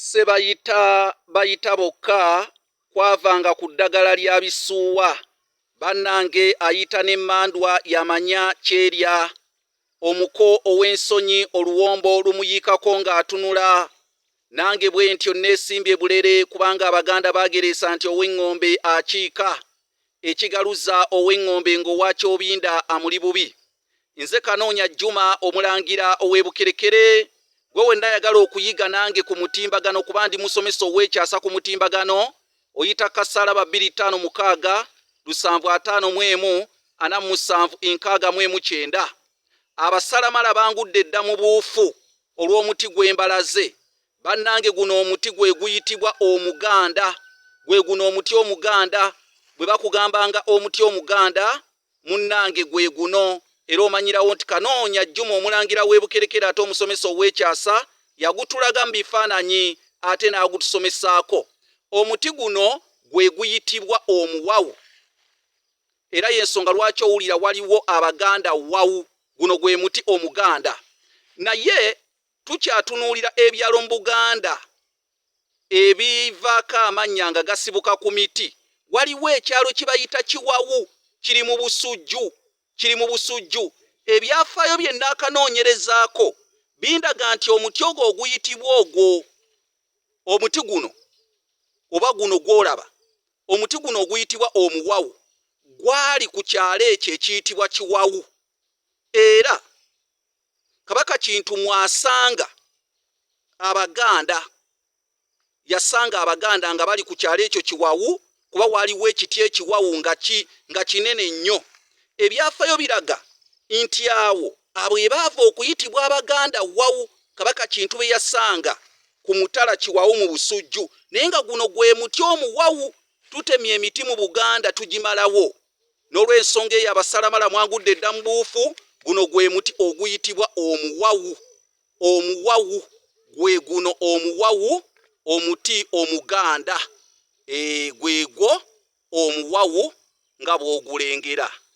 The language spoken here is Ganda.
Ssebayita bayita bokka kwavanga ku ddagala lya bisuuwa bannange ayita ne mmandwa y'amanya ky'erya. Omuko ow'ensonyi oluwombo lumuyiikako ng'atunula. Nange bwentyo nneesimbye bulere kubanga Abaganda baagereesa nti ow'eŋŋombe akiika, ekigaluza ow'eŋŋombe ng'owa Kyobinda amuli bubi. nze kanoonya juma omulangira ow'ebukerekere gwe wenna ayagala okuyiga nange ku mutimbagano kuba ndi musomesa ow'ekyasa ku mutimbagano oyita kasalaba 256 lusanvu ataano mu emu ana mu musanvu enkaaga mu emu kyenda abasalamala bangudde edda mu buufu olw'omuti gw'embalaze bannange guno omuti gwe guyitibwa omuganda gwe guno omuti omuganda bwe bakugambanga omuti omuganda Munnange gweguno era omanyirawo nti Kanoonya Juma omulangira w'e Bukerekere ate omusomesa ow'ekyasa yagutulaga mu bifaananyi ate n'agutusomesaako. Omuti guno gwe guyitibwa omuwawu era y'ensonga lwaki owulira waliwo Abaganda wawu. Guno gwe muti Omuganda. Naye tukyatunuulira ebyalo mu Buganda ebivaako amannya nga gasibuka ku miti. Waliwo ekyalo kye bayita Kiwawu, kiri mu Busujju, kiri mu Busujju. Ebyafaayo bye nnaakanoonyerezaako bindaga nti omuti ogwo oguyitibwa ogwo, omuti guno oba guno gw'olaba, omuti guno oguyitibwa omuwawu gwali ku kyalo ekyo ekiyitibwa Kiwawu era Kabaka Kintu mwasanga Abaganda, yasanga Abaganda nga bali ku kyalo ekyo Kiwawu kuba waaliwo ekiti ekiwawu nga kinene nnyo. Ebyafayo biraga nti awo abo ebaava okuyitibwa Abaganda Wawu Kabaka Kintu be yasanga ku mutala Kiwawu mu Busujju naye nga guno gwe muti omuwawu. Tutemye emiti mu Buganda tugimalawo. N'olw'ensonga eyo abasalamala mwagudde dda mu buufu. Guno gwe muti oguyitibwa omuwawu. Omuwawu gwe guno omuwawu, omuti omuganda. Eeh, gwegwo omuwawu nga bw'ogulengera.